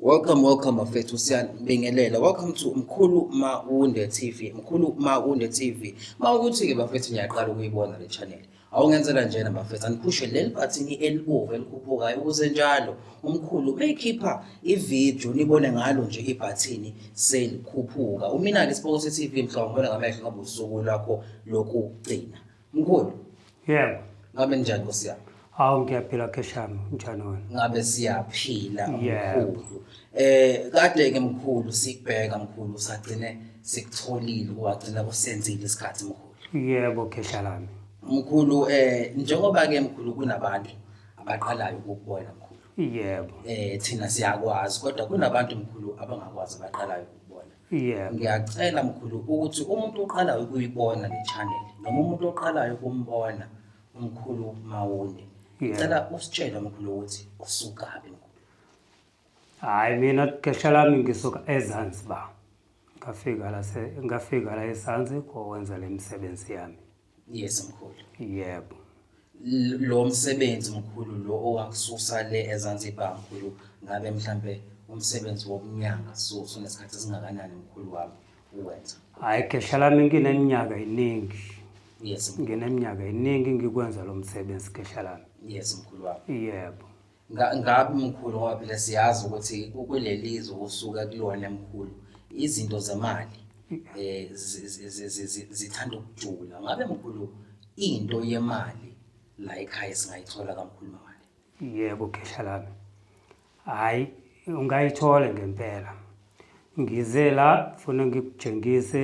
Welcome, welcome bafethu siyanibingelela. Welcome to Mkhulu Mawunde TV. Mkhulu Mawunde TV. Mawukuthi ke bafethu ngiyaqala ukuyibona le channel. Awungenzela njena bafethu aniphushe leli bhathini elibovu elikhuphukayo ukuze njalo umkhulu meyikhipha ivideo nibone ngalo nje ibhathini selikhuphuka. Umina ke Spokose TV mhlawumbe ngamehlo ngobusuku lwakho lokugcina. Mkhulu. Yebo. Ngabe njani Nkosi yami? Hawu ngiyaphila kheshami njani wena? Ngabe siyaphila mkhulu. Eh kade ke mkhulu sikubheka mkhulu sagcine sikutholile wagcina kusenzile isikhathi mkhulu. Yebo khesha lami. Mkhulu eh njengoba ke mkhulu kunabantu abaqalayo ukubona mkhulu. Yebo. Eh thina siyakwazi kodwa kunabantu mkhulu abangakwazi abaqalayo ukubona. Yeah. ngiyacela mkhulu ukuthi umuntu oqalayo ukuyibona le channel noma umuntu oqalayo ukumbona umkhulu mawunde Yeah. ngicela usitshele mkhulu ukuthi usukaphi mkhulu Hayi mina gesha lami ngisuka eZanzibar. Ngafika la se ngafika la eZanzi kokwenza lemisebenzi yami. yes mkhulu yebo lo msebenzi mkhulu lo owakususa le eZanzibar mkhulu ngabe mhlambe umsebenzi wokunyanga so sonesikhathi esingakanani mkhulu wami uwenza hayi khehla lami ngineminyaka iningi yes ngineminyaka iningi ngikwenza lo msebenzi khehla lami yes mkhulu wami yebo Nga- ngabe mkhulu ngoba phela siyazi ukuthi kuleli zwe usuka kulona mkhulu izinto zemali eh zi- zi- zi- zi- zi- zithanda ukujula ngabe mkhulu into yemali la ekhaya singayithola kamkhulu mali yebo khehla lami hhayi ungayithole ngempela ngize la funa ngikutshengise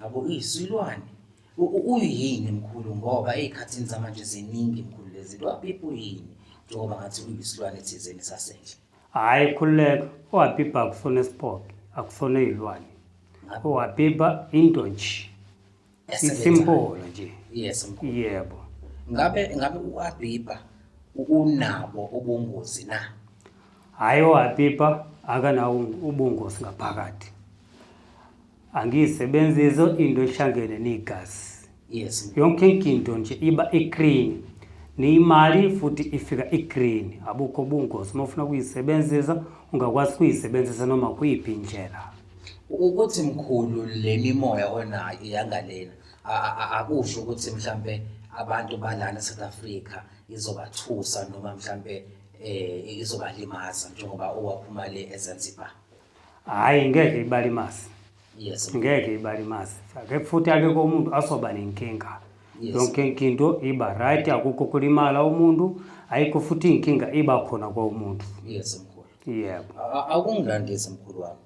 Yabo iyisilwane. Uyini mkhulu ngoba ezikhathini zamanje ziningi mkhulu lezinto wapipa uyini njengoba ngathi uyisilwane thizeni sasendle. Hayi khululeka owapipa akufona isipoke akufona izilwane. Owapipa into nje. Isimpolo nje. Yes mkhulu. Yebo. Ngabe ngabe uwapipa unabo ubungozi na? Hayi owapipa akanawo ubungozi ngaphakathi. angiyisebenzizo into ehlangene negazi yes yonke inkinto nje iba igreen niyimali futhi ifika igreen abukho ubungozi uma ufuna ukuyisebenzisa ungakwazi ukuyisebenzisa noma kuyiphi indlela ukuthi mkhulu le mimoya onayo iyangalena akusho ukuthi mhlambe abantu balana South Africa izobathusa noma mhlambe eh izobalimaza njengoba owaphuma le eZanzibar Hayi ngeke ibalimazi. Yes. Ngeke ibalimazi. Ake futhi ake komuntu asoba nenkinga. Yes. Yonke into iba right akukho kulimala umuntu ayikho futhi inkinga iba khona kwa umuntu. Yes mkhulu. Yebo. Akungandisi mkhulu wami.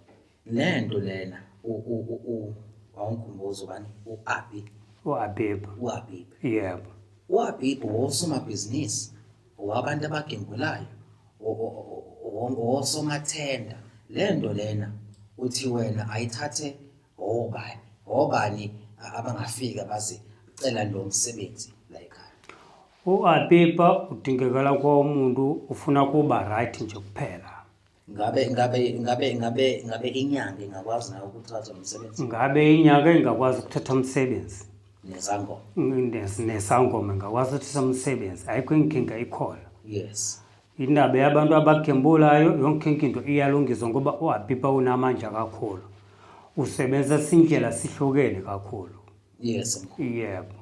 Nento lena u u u awungikhumbuzo bani u Abi. U Abi. U Abi. Yebo. U Abi wosomabhizinisi. owabantu abagembulayo owosomathenda le nto lena uthi wena ayithathe obani obani abangafika baze cela lo msebenzi la ekhaya uapipa udingekela kwa umuntu ufuna kuba right nje kuphela ngabe ngabe ngabe ngabe ngabe inyanga ingakwazi nayo ukuthatha umsebenzi ngabe inyanga ingakwazi ukuthatha umsebenzi nesangoma nesangoma ingakwazi ukuthatha umsebenzi ayikho inkinga ikhona yes indaba yabantu abagembulayo yonke into iyalungiswa ngoba uhabipa unamandla kakhulu usebenzisa indlela sihlukene kakhulu yes yebo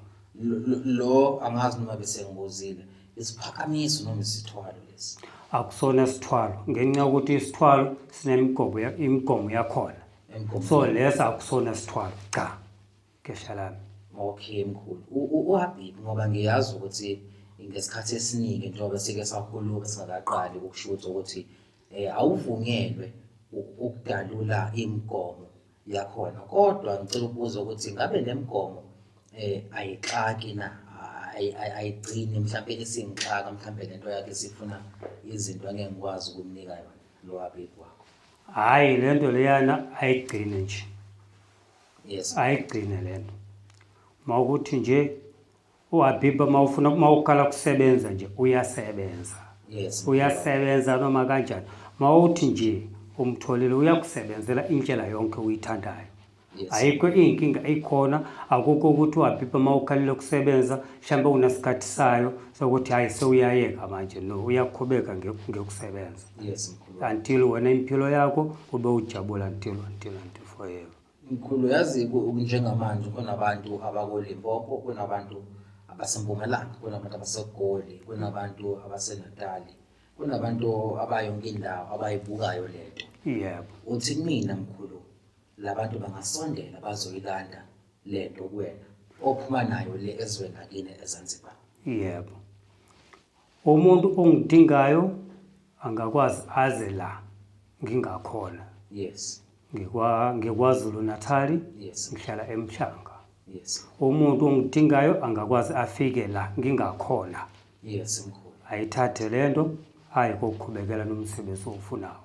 lo angazi noma bese ngibuzile isiphakamiso noma isithwalo lesi akusona isithwalo ngenxa yokuthi isithwalo sinemigobo imigomo yakhona so lesa akusona isithwalo cha kesha lami okay mkhulu uhabib ngoba ngiyazi ukuthi ngesikhathi esiningi njengoba sike sakhuluma singakaqali ukushuthi ukuthi um awuvunyelwe ukudalula imigomo yakhona kodwa ngicela ukubuza ukuthi ngabe le mgomo eh ayixaki na ayigcini mhlawumbe isingixaka mhlawumbe lento yakhe sifuna izinto angeke ngikwazi ukumnika yona lo abeki wakho hayi lento leyana ayigcine nje yes ayigcine lento mawukuthi nje uhabiba uma ufuna uma uqala kusebenza nje uyasebenza yes uyasebenza noma kanjani uma uthi nje umtholile uyakusebenzela indlela yonke uyithandayo yes ayikho iy'nkinga ikhona akukho ukuthi uhabiba uma ukhalile kusebenza mhlawumbe unesikhathi sayo sokuthi hhayi sewuyayeka manje no uyakhubeka nge- ngekusebenza yes mkhulu until wena impilo yakho ube ujabula until until until forever Mkhulu yazi njengamanje kunabantu abakoLimpopo kunabantu abasempumalanga kunabantu abasegoli kunabantu abasenatali kunabantu abayonke indawo abayibukayo lento yebo uthi mina mkhulu labantu bangasondela bazoyilanda lento kuwena ophuma nayo le ezweni akini eZanzibar yebo Umuntu ongidingayo angakwazi aze la ngingakhona. Yes. Ngikwa ngikwazulu Natali. Yes. Ngihlala eMhlanga. Yes. Umuntu ongidingayo angakwazi afike la ngingakhona. Yes mkhulu. Ayithathe lento ayi kokuqhubekela nomsebenzi ofunayo.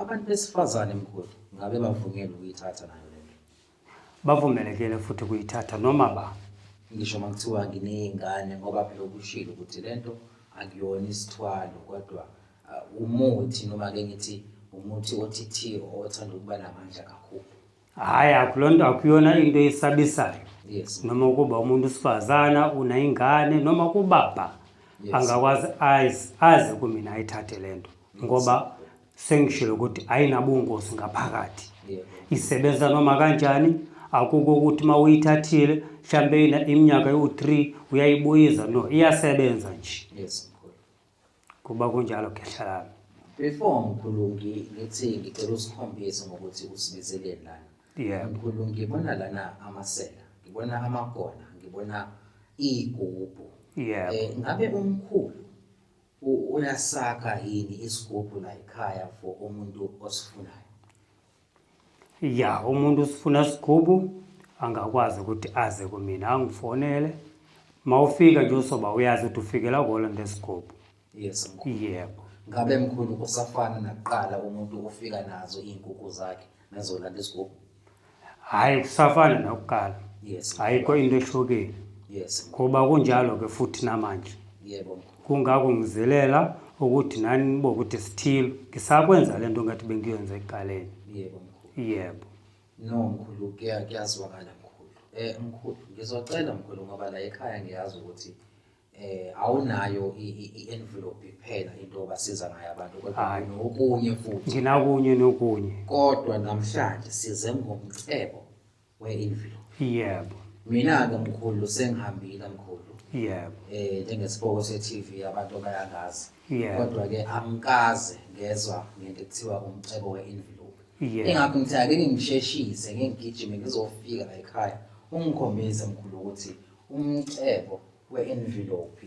Abantu besifazane mkhulu ngabe bavunyelwe ukuyithatha nayo le nto. Bavumelekile futhi ukuyithatha noma ba. Ngisho uma kuthiwa nginey'ngane ngoba phela ukushilo ukuthi le nto akuyona isithwalo kodwa uh, umuthi noma-ke ngithi umuthi othi thi othanda ukuba namandla kakhulu. Hhayi, akuloo nto akuyona into esabisayo yes. noma ukuba umuntu usifazana unayingane noma kubaba yes. angakwazi azi kumina ayithathe le nto ngoba sengishilo ukuthi ayinabungozi ngaphakathi yeah. isebenza noma kanjani akuko ukuthi uma uyithathile mhlawumbe iminyaka ewu-three uyayibuyiza no iyasebenza nje yes. Kuba kunjalo khehla lami. Before mkhulungi ngithi ngicela usikhombise ngokuthi usibizeleni lana. Yeah. Mkhulungi ngibona lana amasela, ngibona amagona, ngibona iy'gubhu. Yeah. Eh, ngabe umkhulu u- uyasakha yini isigubhu la ekhaya for umuntu osifunayo? ya umuntu usifuna sigubu angakwazi ukuthi aze kumina angifonele uma ufika nje usoba uyazi ukuthi ufikela kona ngesigubu yes mkhulu yebo ngabe mkhulu kusafana nakuqala umuntu ufika nazo iy'nkukhu zakhe nazolanda isigubu hhayi kusafana nakuqala yes ayikho into ehlukile yes ngoba kunjalo-ke futhi namanje yebo mkhulu kungako ngizilela ukuthi nani nibo ukuthi sithile ngisakwenza le nto ngathi bengiyenza ekuqaleni yebo mkhulu yebo no mkhulu kuyazwakala mkhulu um mkhulu ngizocela mkhulu ngoba la ekhaya ngiyazi ukuthi eh awunayo i-envelope kuphela into obasiza ngayo abantu kodwa nokunye futhi nginakunye nokunye kodwa namhlanje size ngomcebo we-evil yebo mina-ke mkhulu sengihambile mkhulu yebo eh njengesiboko se-TV abantu bayangazi Yebo. kodwa ke angikaze ngezwa ngento ekuthiwa umcebo we-envelope Yebo. ingakho ngithi ake ngingisheshise ngingigijime ngizofika la ekhaya ungikhombise mkhulu ukuthi umcebo we-envelope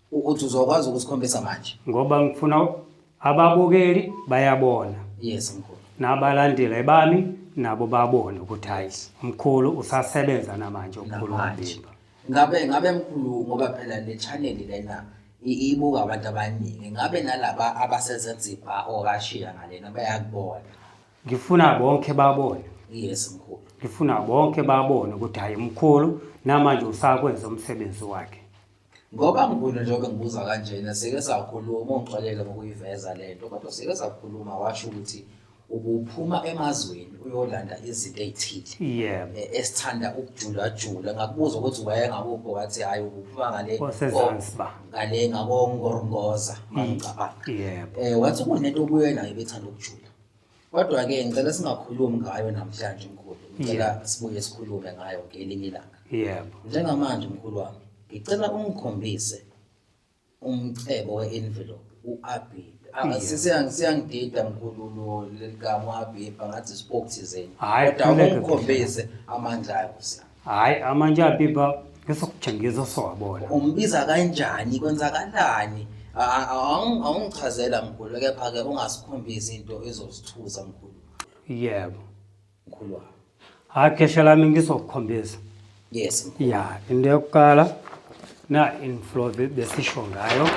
ukuthi uzokwazi ukusikhombisa manje ngoba ngifuna ababukeli bayabona yes mkhulu nabalandeli bami nabo babone ukuthi hayi mkhulu usasebenza namanje umkhulu Mabimba ngabe ngabe mkhulu ngoba phela le channel lena ibuka abantu abaningi ngabe nalaba abaseZanzibar okashiya ngalena bayakubona ngifuna bonke babone yes mkhulu ngifuna bonke babone ukuthi hayi mkhulu namanje usakwenza umsebenzi wakhe Ngoba ngibona njengoba ngibuza kanjena sike sakhuluma ungixolele ngokuyiveza le nto kodwa sike sakhuluma washo ukuthi ubuphuma emazweni uyolanda izinto ezithile yeah. Eh, esithanda ukujulajula ngakubuza ukuthi wayengakuphi wathi hhayi ubuphuma ngale ngale ngakongorongoza mangicabanga yeah. um eh, wathi kunento kuyena ebethanda ukujula Kodwa-ke ngicela singakhulumi ngayo namhlanje mkhulu. Ngicela sibuye sikhulume ngayo ngelinye ilanga. Yebo. Njengamanje mkhulu wami, ngicela ungikhombise umcebo we-envelope u-Abib. Ah, Siyangidida mkhulu lo lelikamu Abib ngathi spoke thizeni. Hhayi, Kodwa khuleka, ungikhombise amandla ayo Nkosi yami. Hayi amanje apipa ngisokujengisa usowabona. Umbiza kanjani kwenzakalani? A- a- awung- Awungichazela mkhulu kepha ke ungasikhombisi into ezosithusa mkhulu. Yebo. Mkhulu wami. Hayi khesha lami ngizokukhombisa. Yes mkhulu. Ya, into yokuqala na inflow be- besisho ngayo.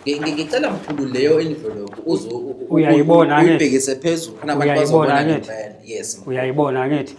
Ngi- ngi- Ngicela mkhulu leyo envelope uzo Uyayibona, angithi? uyibhekise phezulu khona abantu Uyayibona, bazobona angithi? ngempela. Yes mkhulu. Uyayibona ngithi?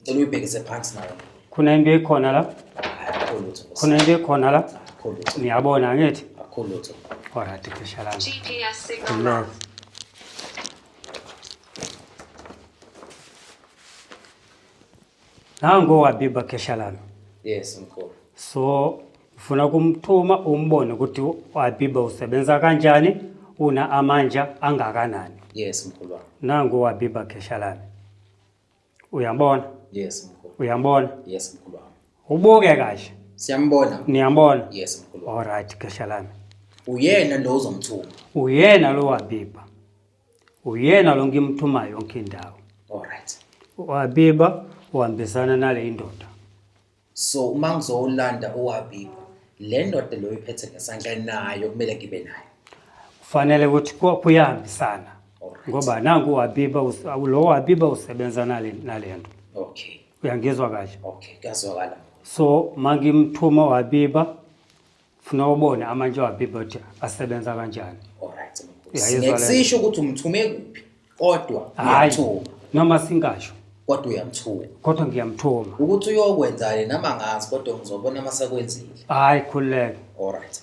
Ngicela uyibhekise phansi nayo. Khona into ekhona la? Akho lutho. Khona into ekhona la? Akho lutho. Niyabona angithi? Akho lutho. Alright, kushalana. GPS signal. Nango wabiba khesha lami. Yes, mkhulu. So ufuna kumthuma umbone ukuthi wabiba usebenza kanjani, una amandla angakanani. Yes, mkhulu wami. Nango wabiba khesha lami. Uyambona? Yes mkhulu. Uyambona? Yes mkhulu wami. Ubuke kahle. Siyambona. Niyambona? Yes mkhulu. All right, gesha lami. Uyena lo uzomthuma. Uyena lo wabiba. Uyena lo ngimthumayo yonke indawo. All right. Wabiba uhambisana nale indoda. so uma ngizowulanda uwabiba le ndoda leyo iphethe ngesandla nayo kumele ngibe nayo kufanele ukuthi ku- kuyahambisana Alright. ngoba nangu uwabiba us- awu- lo wabiba usebenza nale nale nto okay uyangizwa kahle okay kuyazwakala so mangimthuma wabiba funa ubone amantshwa aphi ukuthi asebenza kanjani Alright. Uyayizwa le nto? Ngisisho ukuthi umthume kuphi kodwa Hhayi. uyamthuma noma singasho kodwa uyamthuma. kodwa ngiyamthuma Ukuthi uyokwenzani nama ngazi kodwa ngizobona uma sekwenzile. hhayi khululeke Alright.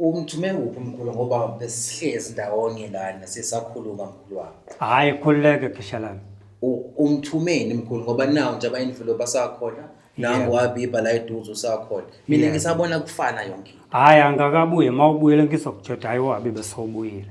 umthume kuphi mkhulu ngoba besihlezi ndawonye lana sisakhuluma mkhulu wami hayi khululeke khisha lami U- umthumeni mkhulu ngoba nawo nje abayindlulo basakhona nangu Yeah. wabiba la eduze usakhona mina Yeah. ngisabona kufana yonke into hayi angakabuye uma ubuyele ngizokujoda hayi wabi besowubuyile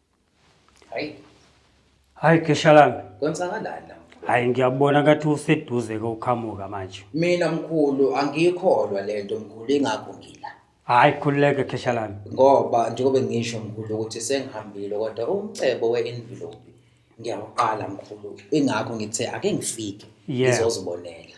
Hayi. Hayi keshalami. Kwenzakalani la? Hayi ngiyabona ngathi useduze ke uqhamuka manje. Mina mkhulu angiyikholwa lento mkhulu ingakho ngila. Hayi khululeke keshalami. Ngoba njengoba ngisho mkhulu ukuthi sengihambile kodwa umcebo we-envelope ngiyawuqala mkhulu. Ingakho ngithe ake ngifike Yeah. ngizozibonela.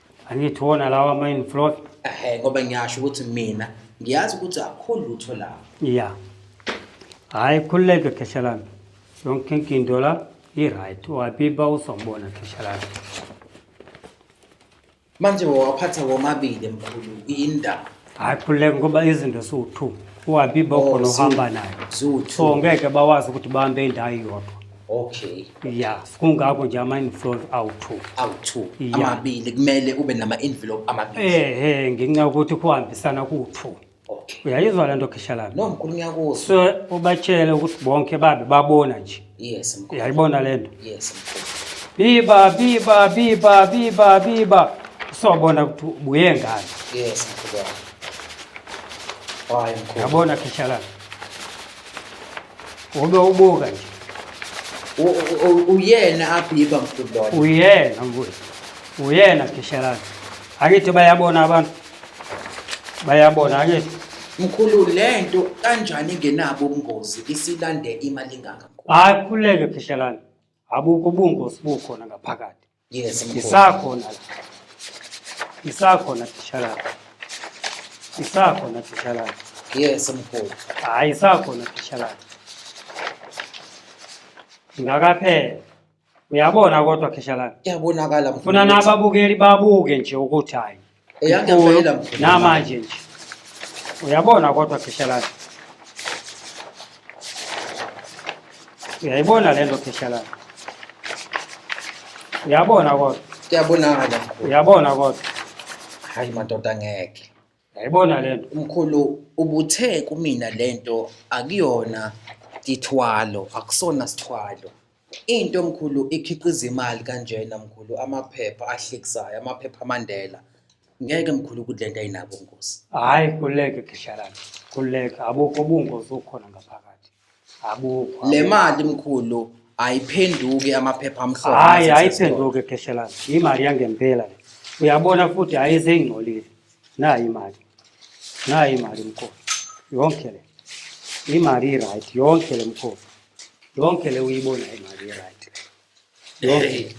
angithi wona lawa ama-in floor ehe ngoba ngiyasho ukuthi mina ngiyazi ukuthi akho lutho lapho ya hhayi khululeke khesha lami yonke inkinto la i-right wabiba uzobona khesha lami manje wawaphatha womabili mkhulu yini ndaba hayi khululeka ngoba izinto siwu-two uhambe ibokho Oh, nohamba ziwu- nayo ziwu-two. so ngeke bawazi ukuthi bahambe indawo iyodwa okay ya kungako nje ama-inflow awu-two awu-two Ya. amabili kumele ube nama-envelope amabili ehe ngenxa yokuthi kuhambisana kuwu-two okay uyayizwa le nto khisha lami no mkhulu ngiyakuzwa so ubatshele ukuthi bonke babe babona nje Yes mkhulu. Uyayibona lento? Yes mkhulu. Biba biba biba biba biba. Sobona ukuthi ubuye ngani. Yes mkhulu. Hayi mkhulu. Yabona khishala. Ube ubuka nje. Uyena abhiba mkhulu. Uyena mkhulu. Uyena khishala. Angithi bayabona abantu. bayabona ke mkhulu lento kanjani ngenabo ubungozi isilande imali ngaka hayi khuleke phihlelani abukho ubungozi bukhona ngaphakathi yes mkhulu isakhona isakhona phihlelani isakhona phihlelani yes mkhulu hayi isakhona phihlelani ngakaphela Uyabona kodwa Kheshalana. Iyabonakala mfowethu. Funa nababukeli babuke nje ukuthi hayi. Eyangempela mfowethu. Namanje nje. Uyabona kodwa Kheshalana. Uyayibona lento Kheshalana. Uyabona kodwa. Kuyabonakala. Uyabona kodwa. Hayi madoda ngeke. Yayibona lento. Mkhulu ubuthe kumina lento akuyona ithwalo, akusona sithwalo. Into mkhulu ikhiqiza imali kanjena mkhulu amaphepha ahlekisayo, amaphepha aMandela. Ngeke mkhulu ukuthi lento ayinabo ngosi. Hayi kuleke khehlalana. Kuleke abukho ubungozi okhona ngaphakathi. Akukho. Le mali mkhulu ayiphenduki amaphepha amhlophe. Hayi nasesitolo. ayiphenduke kheshelana. Imali yangempela le. Uyabona futhi hayi seyingcolile. Nayi imali. Nayi imali mkhulu. Yonke le. Imali right yonke le mkhulu. Yonke le uyibona imali right. Yonke.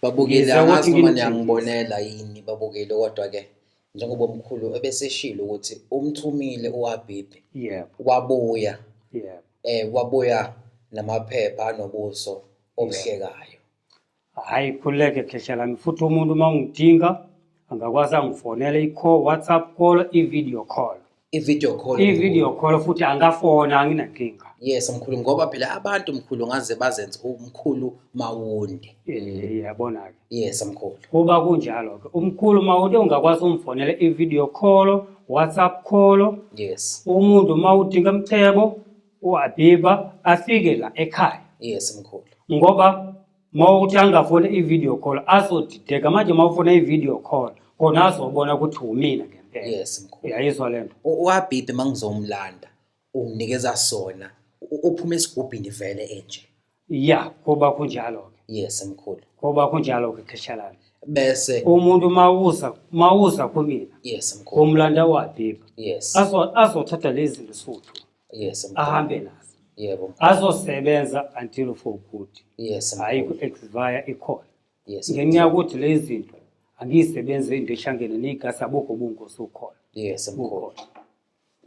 Babukile Ngize ukuthi angazi noma ngimthini. niyangibonela yini babukile kodwa ke njengoba umkhulu ebeseshilo ukuthi umthumile uwabhibhi yebo wabuya yebo eh wabuya namaphepha anobuso obuhlekayo hayi khuleke kheshelani futhi umuntu uma ungidinga angakwazi angifonele i-call whatsapp call i-video call i-video call i-video call futhi angafona anginankinga yes mkhulu ngoba phela abantu mkhulu ngaze bazenze umkhulu mawunde eh yabona ke yes mkhulu kuba kunjalo ke umkhulu mawunde ungakwazi umfonela i-video call whatsapp call yes umuntu mawudinga umcebo uabiba afike la ekhaya yes mkhulu ngoba uma uthi angafona i-video call azodideka manje uma ufona i-video call kona azobona ukuthi wumina ngempela yes mkhulu uyayizwa le nto uhabhibhi uma ngizomlanda unginikeza sona uphume esigubhini vele enje ya kuba kunjalo-ke yes mkhulu kuba kunjalo-ke kheshalana bese umuntu mawuza mawuza kumina yes mkhulu umlanda wabhibha yes azothatha lezi zinto suthu yes mkhulu. ahambe nazo yebo mkhulu. azosebenza until for good yes hhayi mkhulu. ku-expire ikhona yes ngenxa yokuthi le zinto angiyisebenzi into ehlangene neyigasi abukho ubungozi ukhona yes mkhulu bukhona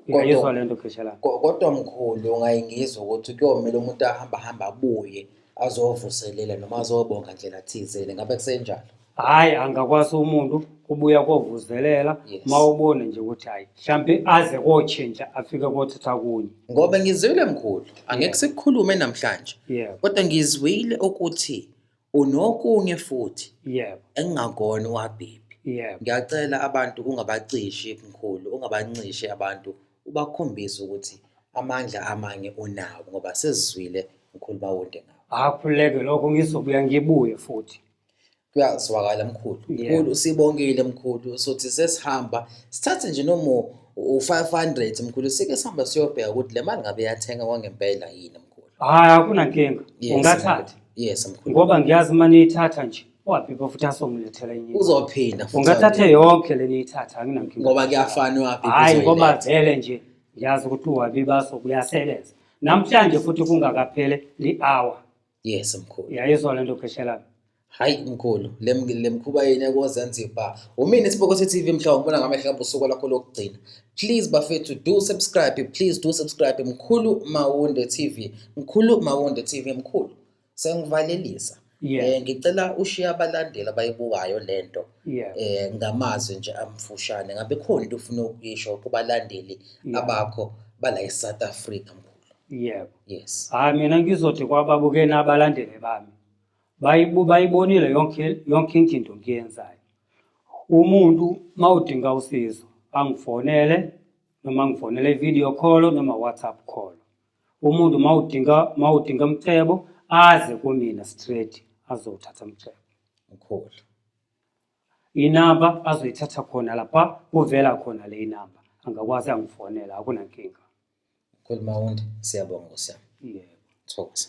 Kodwa- uyayizwa le nto khesha lami Ko- kodwa mkhulu ngayingizwa ukuthi kuyomele umuntu ahamba hamba abuye azovuselela noma azobonga ndlela thizeni ngabe kusenjalo hayi angakwazi umuntu kubuya kovuzelela Yes. ma ubone nje ukuthi hayi mhlawumbe aze kotshintsha afike kothatha kunye ngoba ngizwile mkhulu angeke sikukhulume namhlanje yebo kodwa ngizwile ukuthi unokunye futhi yebo engingakona uhabhibhi yebo ngiyacela abantu ungabacishi mkhulu ungabancishe abantu ubakhombise ukuthi amandla amanye unawo ngoba sesizwile mkhulu bawonde ngawo akhuleke lokho ngizobuya ngibuye futhi kuyazwakala mkhulu mkhulu sibongile mkhulu sothi sesihamba sithathe nje noma u-500 mkhulu sike sihamba siyobheka ukuthi le mali ngabe yathenga kwangempela yini mkhulu hhayi akunankinga ungathatha yes mkhulu ngoba ngiyazi uma niyithatha nje waphi futhi asongilethela enye uzophinda ungathathe yonke le niyithatha anginankinga ngoba kuyafana waphi hhayi ngoba vele nje ngiyazi ukuthi uwabi baso kuyasebenza namhlanje futhi kungakaphele li-hour yes mkhulu uyayizwa lento pheshela hayi mkhulu lemkhuba yenu yakozanzibar umina isibokose tv mhlawumbe ubona ngamehlo abo usuku lakho lokugcina please bafethu do subscribe please do subscribe mkhulu mawunde tv mkhulu mawunde tv mkhulu sengivalelisa yeah. eh, ngicela ushiye abalandeli abayibukayo lento yeah. eh, ngamazwi nje amfushane ngabe khona into ufuna ukuyisho kubalandeli yeah. abakho bala eSouth Africa mkhulu yebo yes hayi mina ngizothi kwababukeni abalandeli bami bayibu- bayibonile yonke yonke into ngiyenzayo umuntu uma udinga usizo angifonele noma ngifonele video call noma whatsapp call umuntu uma udinga uma udinga umcebo aze kumina straight azowuthatha umcebo mkhulu inamba azoyithatha khona lapha kuvela khona le inamba angakwazi angifonela akunankinga Khuluma Wundi, siyabonga Nkosi yami. Yebo. Thokoza.